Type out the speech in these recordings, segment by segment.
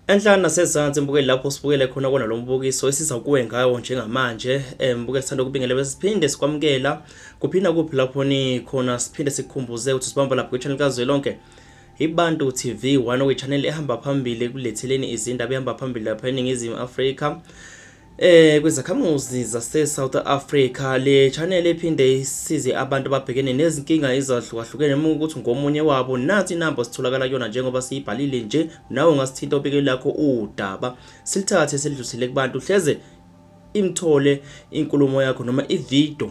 Enhlani nasezansi mbukeli lapho sibukele khona kona lo mbukiso esiza kuwe ngawo njengamanje eh, mbukeli sithanda ukubingelela bese siphinde sikwamukela kuphinda kuphi lapho nikhona siphinde sikhumbuze ukuthi sibamba lapho kwi-channel kazwelonke ibantu tv one okuyichaneli ehamba phambili ekuletheleni izindaba ehamba phambili lapha eningizimu afrika Eh kwezakhamuzi zase South Africa le channel ephinde isize abantu ababhekene nezinkinga ezahlukahlukene uma ukuthi ngomunye wabo nathi inamba sitholakala kuyona njengoba siyibhalile nje nawe ungasithinta obike lakho udaba silithathe silidlusele kubantu hleze imthole inkulumo yakho noma ivideo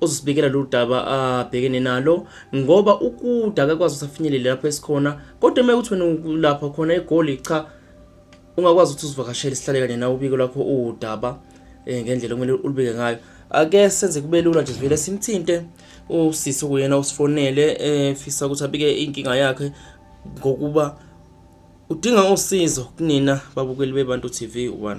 uzosibikela lolu daba abhekene nalo ngoba ukude akakwazi ukuthi afinyelele lapho esikhona kodwa uma ukuthi wena ulapha khona egoli cha ungakwazi ukuthi uzivakashele sihlale kanye nawe ubike lakho udaba um ngendlela okumele ulubike ngayo ake senze kube lula nje sivele simthinte usisi okuyena usifonele efisa eh, ukuthi abike inkinga yakhe ngokuba udinga usizo kunina babukeli bebantu TV 1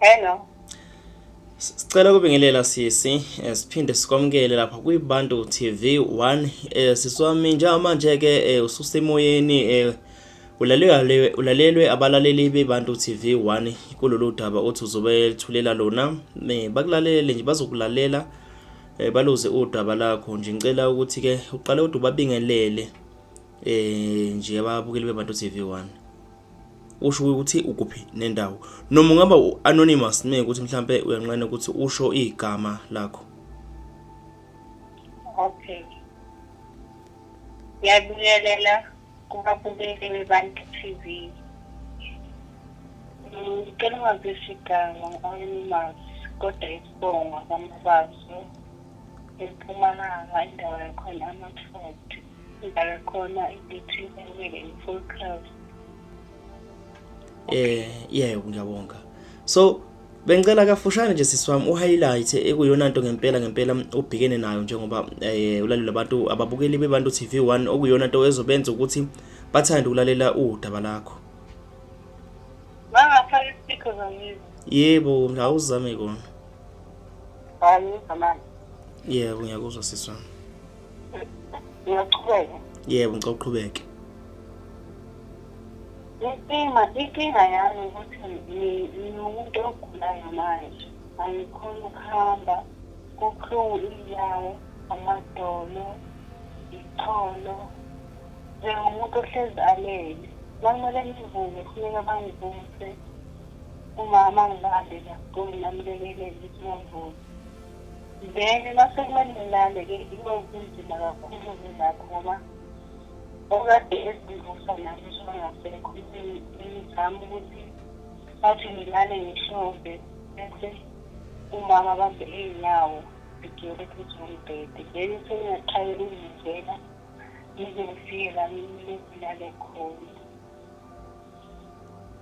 Hello. Sicela kubingelela sisi eh, siphinde sikwamukele lapha kwiBantu TV 1 eh, siswami njengamanje ke eh, ususemoyeni eh, ulalelwe ulalelwe abalaleli beBantu TV 1 kulolu daba othi uzobe thulela lona eh, bakulalele nje bazokulalela eh, baluze udaba lakho nje ngicela ukuthi ke uqale udu babingelele eh nje ababukeli beBantu TV 1 usho ukuthi ukuphi nendawo noma ungaba u-anonymous me ukuthi mhlawumpe uyanqena ukuthi usho igama lakho okay ngiyabuyelela kubabukeli bebantu tv ngicela ungazisho igama ngu-anonymous kodwa isibongo kwamabazo empumalanga indawo yakhona amathoto Ngibhala khona ukuthi kumele i-full cover. Eh, yebo ngiyabonga. So Bengicela kafushane nje sisi wami uhighlight ekuyona nto ngempela ngempela ubhekene nayo njengoba eh ulalela abantu ababukeli bebantu TV1 okuyona nto ezobenza ukuthi bathande ukulalela udaba lakho. Bangafaka isipikho zomizwa. Yebo, ngawuzame kona. Hayi, zamani. Yebo, ngiyakuzwa sisi wami. Ngiyaqhubeka. Yebo, ngicela uqhubeke. Inkinga, inkinga yami ukuthi ngi- ngiwumuntu ogulayo manje. Angikhoni ukuhamba, kubuhlungu inyawo, amadolo, icholo. Njengomuntu ohlezi alele. Bakumele ngivuke, kufuneka bangivuse. Umama angibambe la, kumbe ngamlekelele ukuthi ngivuke. then masekumele ngilale ke into kunzima kakhulu ngilapho ngoba okade ezivusa nami songasekho ngizama ukuthi bathi ngilale ngishove bese umama bambe iy'nyawo ngigele phezu kombhede then sengingathaye ukungizela ngize ngifike la ngilale khona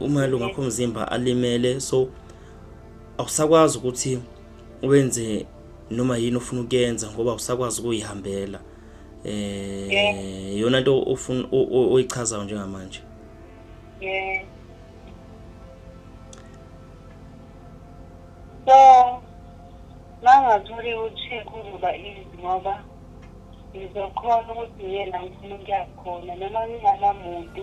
umalunga akho mzimba alimele so awusakwazi ukuthi wenze noma yini ofuna ukuyenza ngoba usakwazi ukuyihambela eh yona into ofuna oyichazayo njengamanje yeah so mangatholi ukuthi kuzoba easy ngoba ngizokhona ukuthi ngiye la ngifuna ukuya khona noma nginganamuntu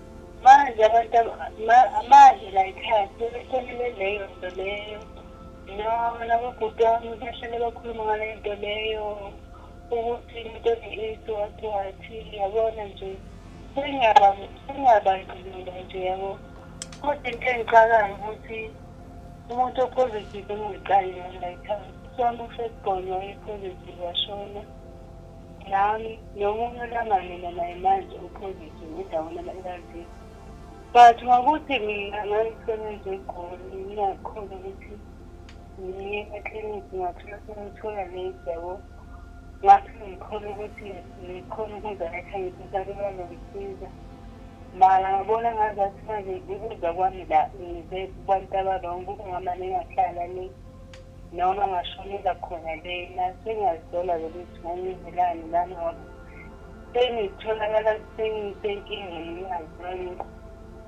manje abantu manje layikhaya sebesonele leyo nto leyo noma nabobhuti wami bahlale bakhuluma ngaleyo nto leyo ukuthi into ne-aids wathi wathi yabona nje sengiyabandlulula nje yabo kodwa into engicakayo ukuthi umuntu opositive engiqali yona layikhaya sohambe usesigonywa i-positive washona nami nomunye olamane nanaye manje uphozithe ngidawona ama-arv but ngokuthi mina ngangisebenza egoli ngingakhona ukuthi ngiye ekliniki ngathola sengithola late yabo ngathi ngikhona ukuthi ngikhona ukuza ekhayisa sake bazongisiza mara ngabona ngazathi manje ukuza kwami la ngize kubantu abarongo kungamane ngahlala le noma ngashonela khona lena sengazisola lokuthi ngangivelani lami ngoba sengitholakala sengisenkingeni ngingazani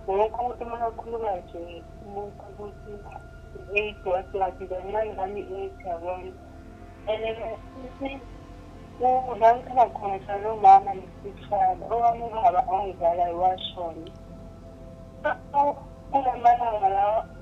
wonke umuntu uma akhuluma nje umuntu ukuthi i-eight wase wathi kancane lami i-eight yabona and futhi la ngikhona khona salo mama nesifana owami ubaba ongizalayo washona kulamalanga lawa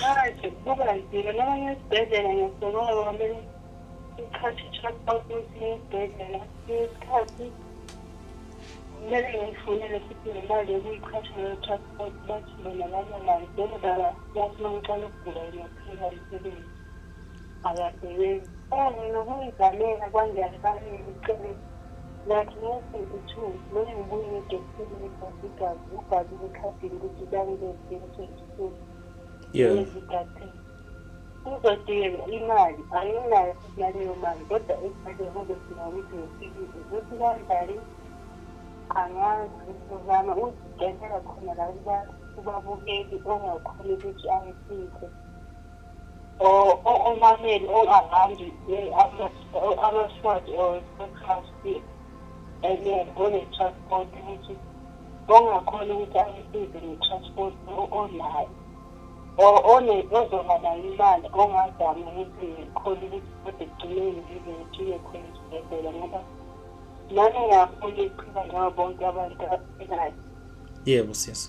manje kuba nzima noma ngesibhedlela ngiyasokola ngoba kumele isikhathi i-transport ukuthi ngisibhedlela isikhathi kumele ngiyifunele futhi nemali yokuyiqhatha leyo transport bathi bona banamali njengoba bathi uma ngiqala ukugula ngiyaphela umsebenzi Akasebenzi. Oh, mina kungigamela kwanjani bamile ucele ngathi ngithi uthu noma ngibuye ngidesile ibhasi igazi ubhali ekhadini ukuthi bangibese ngithi Yeah. ngizigade. Uzodinga imali anginayo futhi naleyo mali kodwa ekade kube sina ukuthi ngifikile ukuthi kanjani angazi ngizozama uzidelela khona la kuba- kubabukeli ongakhona ukuthi angisize or or omameni or around abasifati or abasifati and onetransport ukuthi ongakhona ukuthi ayisize ngetransport onayo or ozoba nayo imali ongazami ukuthi ngikhona ukuthi kodwa ekugcineni ngize ngithiye khona esibhedlela ngoba nami ngiyafuna iqhina njengo bonke abantu abanayo yebo sisi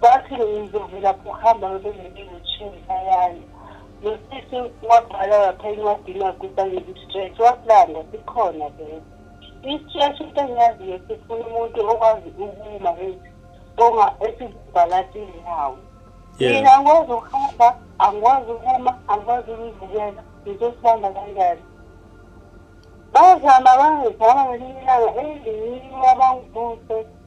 bathi ngizovela kuhamba bebenginezinshini ayani nosisi wabhala lapha encwadini waguba ngezi-stretch wakulanda sikhona vele i-stretch into engiyaziyo sifuna umuntu okwazi ukuma onga esizibhala sizinyawo mina angikwazi ukuhamba angikwazi ukuma angikwazi ukuzibukela ngizosibamba kanjani bazama bangizama ngelinye ilanga elinye abangibuse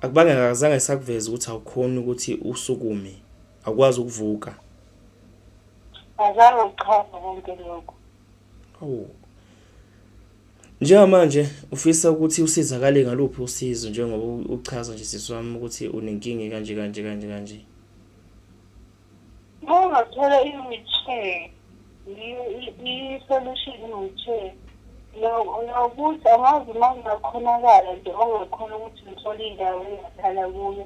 Akubange akazange sakuveza ukuthi awukhoni ukuthi usukume akwazi ukuvuka. Azange uchaza konke lokho. Awu. Njengamanje ufisa ukuthi usizakale ngaluphi usizo njengoba uchaza nje sisi wami ukuthi unenkinga kanje kanje kanje kanje. Uma ungathola i-wheelchair, i-solution i-wheelchair, nokuthi angazi uma kungakhonakala nje ongakhona ukuthi ngithole indawo engahlala kuyo.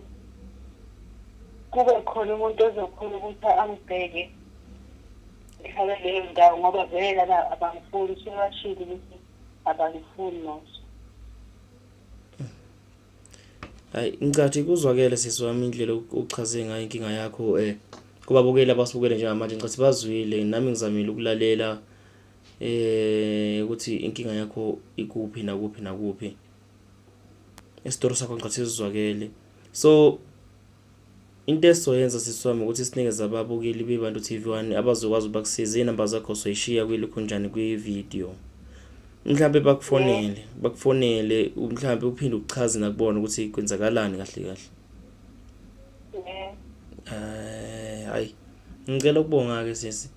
Kube khona umuntu ozokhona ukuthi angibheke ngihlale leyo ndawo ngoba vele lana abangifuni sebashile ukuthi abangifuni noso. Hayi ngicathi kuzwakele sisi wami indlela uchaze ngayo inkinga yakho eh kubabukeli abasibukele njengamanje ngicathi bazwile nami ngizamile ukulalela eh ukuthi inkinga yakho ikuphi nakuphi nakuphi isitori sakho ngicathi sizwakele so Into esizoyenza sisi wami ukuthi sinikeze ababukeli beBantu TV One abazokwazi ukuba kusize iy'namba zakho soyishiya kwilukhunjani kwi-video. Mhlampe bakufonele, bakufonele mhlampe uphinde uchaze nakubona ukuthi kwenzakalani kahle kahle. Eh, hayi. Ngicela ukubonga ke sisi.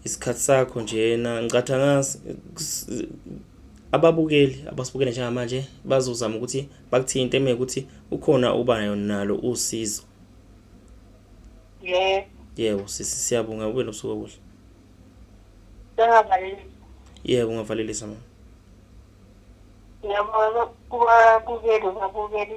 isikhathi sakho njena ngicatha angazi ababukeli abasibukele njengamanje bazozama ukuthi bakuthinte uma ukuthi ukhona uba nalo usizo yebo yebo sisi siyabonga ube nobusuku obuhle sengavalelisa yebo ungavalelisa mama ngiyabona kubabukeli babukeli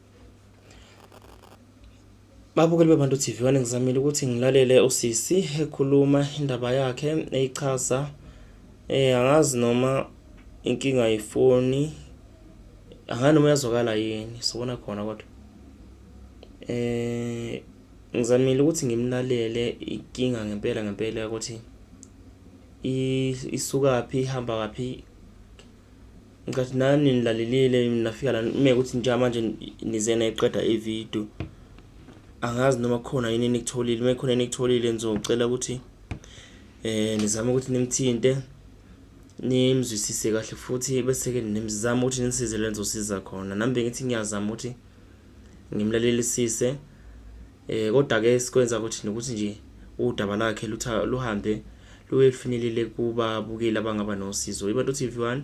Babukeli beBantu TV one ngizamile ukuthi ngilalele usisi ekhuluma indaba yakhe eyichaza eh angazi noma inkinga yefoni angani noma yazwakala yini sobona khona kodwa eh ngizamile ukuthi ngimlalele inkinga ngempela ngempela ukuthi isukaphi ihamba kaphi Ngicathi nani nilalelile nafika la nime ukuthi nje manje nizena iqeda ivideo. Angazi noma khona yini enikutholile, uma khona enikutholile ngizocela ukuthi eh nizame ukuthi nimthinte nimzwisise kahle futhi bese ke nimzama ukuthi nisize lenzosiza khona. Nami bengithi ngiyazama ukuthi ngimlalelisise Eh kodwa ke sikwenza ukuthi nokuthi nje udaba lakhe luhambe luye lufinyelele kubabukeli abangaba nosizo. IBantu TV 1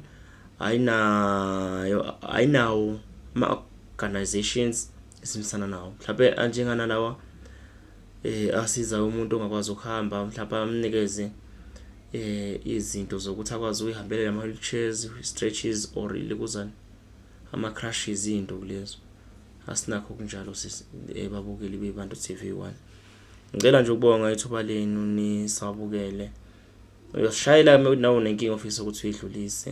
ayinayo ayinawo ama organizations esimisana nawo. Mhlawumbe anjengana lawa eh asiza umuntu ongakwazi ukuhamba mhlawumbe amnikeze eh izinto zokuthi akwazi ukuyihambela ama wheelchairs, stretches or likuzana ama crashes into kulezo. asinakho kunjalo sisi eh, babukeli bebantu TV1 ngicela nje ukubonga ithuba lenu nisabukele uyosishayela nawo nenkinga ofisa ukuthi uyidlulise